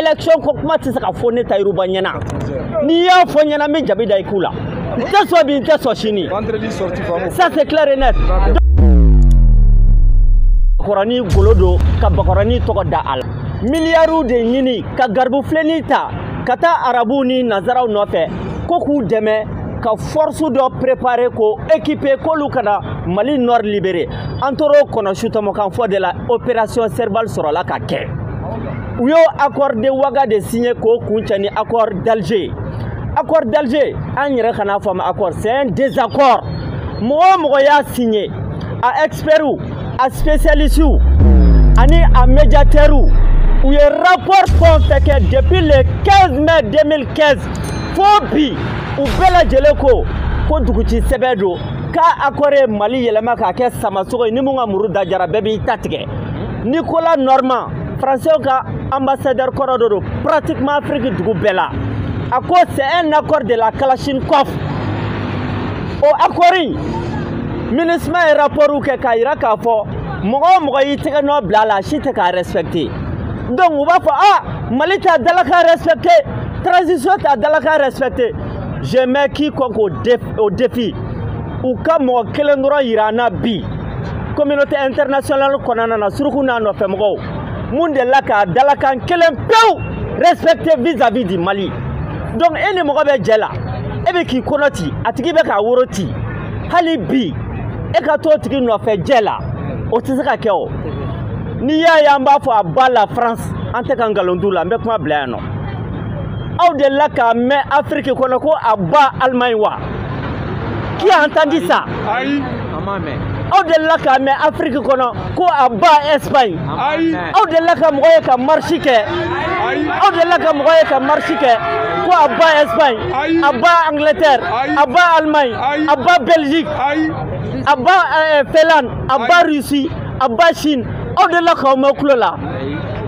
élection ko kuma tɛ se ka fɔ ne tahirou ba ɲɛna n'i y'a fɔ ɲɛna n bɛ jabi da i ku la n tɛ sɔn bi n tɛ sɔn sini ça c'est clair et net bakɔrɔni golo don ka bakɔrɔni tɔgɔ da a la miliyariw de ɲini ka garibufilenni ta ka taa arabuw ni nazaraw nɔfɛ ko k'u dɛmɛ ka force dɔ préparer k'o équiper k'olu ka na mali nord libérer an tor'o kɔnɔsutɔmɔkan fɔ de la opération serval sɔrɔla ka kɛ u y'o accord de waga de signé k'o kuncɛ ni accord d'Alger accord d'Alger an yɛrɛ kan'a fɔ a ma accord c'est un désaccord mɔgɔ o mɔgɔ y'a signé a experts a spécialistes ani a médiateurs u ye rapport fɛn o fɛn kɛ depuis le 15 mai 2015 fo bi u bɛɛ lajɛlen ko ko duguci sɛbɛn don k'a accord ye mali yɛlɛma k'a kɛ samasogo ye ni mun ka muru da diyara bɛɛ b'i ta tigɛ nicolas normand faransiw ka anbasadɛri kɔrɔ dɔ don pratiquement afiriki dugu bɛɛ la a ko c'est un accord de la kalachnikov o accord in minusma ye rapportw kɛ k'a yira k'a fɔ mɔgɔ o mɔgɔ y'i tɛgɛ nɔ bila a la a si tɛ k'a respecter donc u b'a fɔ ah mali t'a dalakan respecter transition t'a dalakan respecter je mets quiconque au défi u ka mɔgɔ kelen dɔrɔn yira an na bi communauté internationale kɔnɔna na suruku n'a nɔfɛmɔgɔw mun delila k'a dalakan kelen pewu respecter vis-à-vis du mali donc e ni mɔgɔ bɛ jɛ la e bɛ k'i kɔnɔ ci a tigi bɛ k'a woro ci hali bi e ka t'o tigi nɔfɛ jɛ la o tɛ se ka kɛ o n'i y'a ye an b'a fɔ à bas la france an tɛ ka nkalon d'u la n bɛ kuma bila yan nɔ aw delila k'a mɛn afiriki kɔnɔ ko à bas alemaɲi wa qui a entendu ça aw delila k'a mɛn afiriki kɔnɔ ko à bas ɛsipaɲi aw delila ka mɔgɔ ye ka marisi kɛ aw delila ka mɔgɔ ye ka marisi kɛ ko à bas ɛsipaɲi à bas angletɛri à bas alimaɲi à bas bɛliziki à bas eh, finlande à bas rusi à bas sini aw delila k'o mɛn tulo la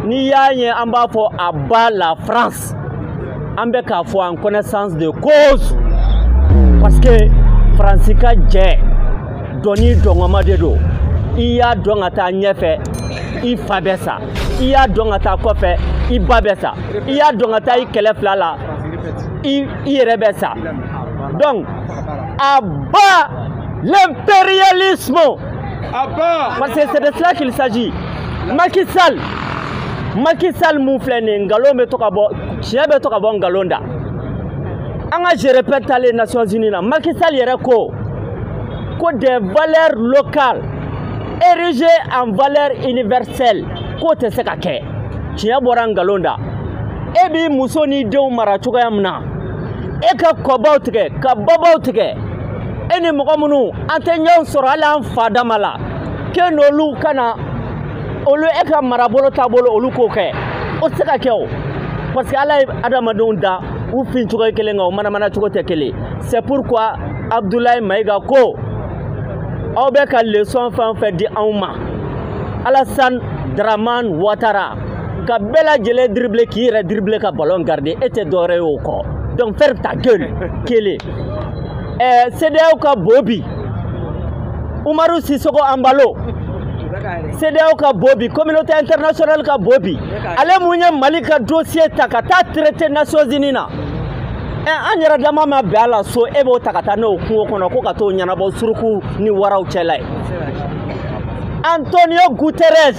n'i y'a ye an b'a fɔ à bas la france an bɛ k'a fɔ en connaissance de cause parce que faransi ka jɛ dɔnni dɔngɔma de don i y'a dɔn ka taa ɲɛfɛ i fa bɛ sa i y'a dɔn ka taa kɔfɛ i ba bɛ sa i y'a dɔn ka taa i kɛrɛ fila la i yɛrɛ bɛ sa donc à bas l'impérialisme Parce que c'est de cela qu'il s'agit. Macky Sall, Macky Sall min filɛ nin ye nkalon bɛ to ka bɔ tiɲɛ bɛ to ka bɔ nkalon da an ka je répète taalen Nations Unies na Macky Sall yɛrɛ ko ko des valeurs locales érigées en valeur universelle k'o tɛ se ka kɛ tiɲɛ bɔra nkalon da e b'i muso n'i denw mara cogoya min na e ka kɔbaw tigɛ ka babaw tigɛ e ni mɔgɔ minnu an tɛ ɲɔgɔn sɔrɔ hali an fa dama la k'e n'olu ka na olu e ka marabolo taabolo olu k'o kɛ o tɛ se ka kɛ o parce que ala ye adamadenw dan u fin cogo ye kelen nka u manamana cogo tɛ kelen c'est pourquoi abdulayi mayiga ko aw bɛ ka leçon fɛn o fɛn di anw ma alasan daraman watara ka bɛɛ lajɛlen dribble k'i yɛrɛ dribble ka ballon garder e tɛ dɔwɛrɛ ye o kɔ donc ferme ta gueule kelen ɛɛ CEDEAO ka bobi Umaru Sisoko Embalo CEDEAO ka bobi communauté internationale ka bobi ale min ye Mali ka dossier ta ka taa traiter Nations Unies na ɛ an yɛrɛ dama ma bɛn a la so e b'o ta ka taa n'o kungo kɔnɔ ko ka t'o ɲɛnabɔ suruku ni waraw cɛla yen Antonio Guterres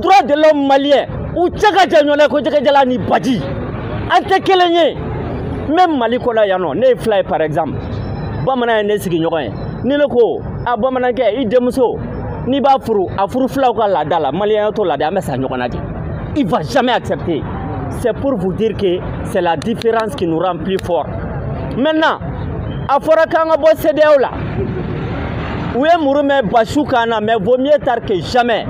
droit de l'homme malien u cɛ ka jan ɲɔgɔn na ko jɛgɛjalan ni baji an tɛ kelen ye même mali kɔnɔ yan nɔ ne ye fila ye par exemple bamanan ye ne sigiɲɔgɔn ye ni ne ko a bamanankɛ i denmuso n'i b'a furu a furu filaw ka laada la maliyɛnya t'o laada an bɛ sa ɲɔgɔn na dɛ il va jamais accepter c'est pour vous dire que c'est la différence qui nous rend plus fort maintenant a fɔra k'an ka bɔ CEDEAO la u ye muru mɛɛn basu kan na mais vaut mieux tard que jamais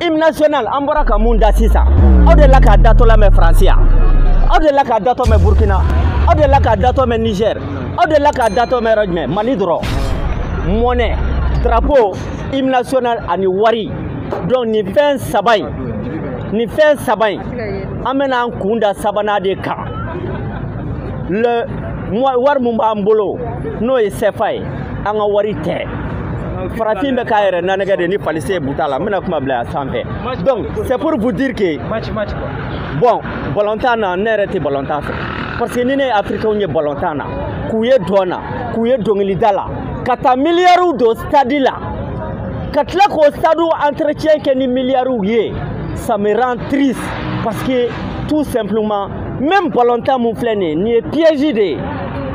hymne national an bɔra ka min da sisan aw dela k'a datɔ lamɛn faransi yan aw dela k'a datɔ mɛn burkina aw dela k'a datɔ mɛn niger aw dela k'a datɔ mɛn yɔrɔ jumɛn mali dɔrɔn monnaie drapeau hymne national ani wari donc nin fɛn saba in nin fɛn saba in an bɛna an kun da sabanan de kan le wari min b'an bolo n'o ye sɛfa ye an ka wari tɛ farafin bɛ k'a yɛrɛ nanɛgɛ de ni falise ye buta la n bɛna kuma bila a sanfɛ donc c'est pour vous dire que bon balontan na ne yɛrɛ tɛ balontan fɛ parce que ni ne ye africainw ye balontan na k'u ye dɔn na k'u ye dɔnkilida la ka taa miliyariw don stadi la ka tila k'o stadiw entretien kɛ ni miliyariw ye ça me rend triste parce que tout simplement même balontan min filɛ nin ye nin ye piège de ye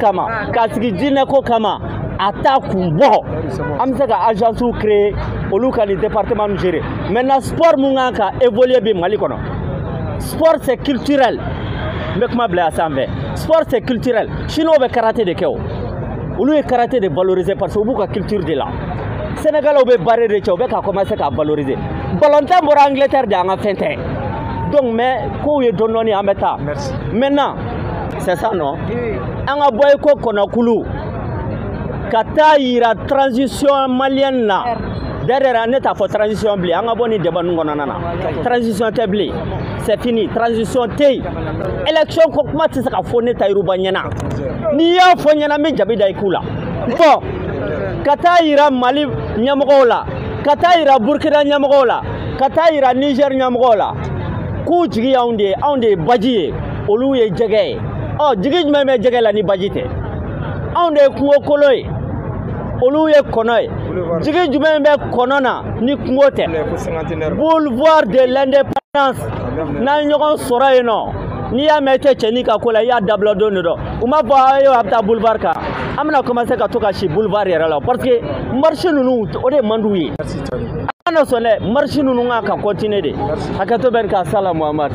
kama k'a sigi diinɛ ko kama a t'a kun bɔ an bɛ se ka agence créer olu ka nin département nu gérer maintenant sport mun kan ka évoluer bi mali kɔnɔ sport c'est culturel n bɛ kuma bila a sanfɛ sport c'est culturel chinois bɛ karate de kɛ o olu ye karate de valoriser parce que u b'u ka culture de la sénégalais bɛ bari de cɛ u bɛ ka commencer k'a valoriser balontan bɔra angleterre de an ka fɛn tɛ donc mais kow ye dɔɔni dɔɔni an bɛ taa maintenant c'est ça non an ka bɔ i ko kɔnɔkulu ka taa yira transition malienne na derrière ne t'a fɔ transition bilen an ka bɔ nin débat ninnu kɔnɔna na transition tɛ bilen c'est fini transition tɛ yen élection ko kuma tɛ se ka fɔ ne tayiru ba ɲɛna n'i y'a fɔ n ɲɛna n bɛ jabi da i ku la bon ka taa yira mali ɲɛmɔgɔw la ka taa yira burkina ɲɛmɔgɔw la ka taa yira niger ɲɛmɔgɔw la k'u jigi y'anw de ye anw de ye baji ye olu ye jɛgɛ ye ɔ jigi jumɛn bɛ jɛgɛ la ni baji tɛ anw de ye kungo kolo ye olu ye kɔnɔ ye jigi jumɛn bɛ kɔnɔ na ni kungo tɛ boulevard de l'indépendance n'an ye ɲɔgɔn sɔrɔ yen non n'i y'a mɛn i tɛ cɛnin ka ko la i y'a dabila don de dɔ u ma fɔ ayiwa a bɛ taa boulevard kan an bɛna commencer ka to ka si boulevard yɛrɛ la parce que marche ninnu o de man d'u ye an kana sɔn dɛ marche ninnu kan ka continuer de hakɛto bɛ nin kan sala muhamadu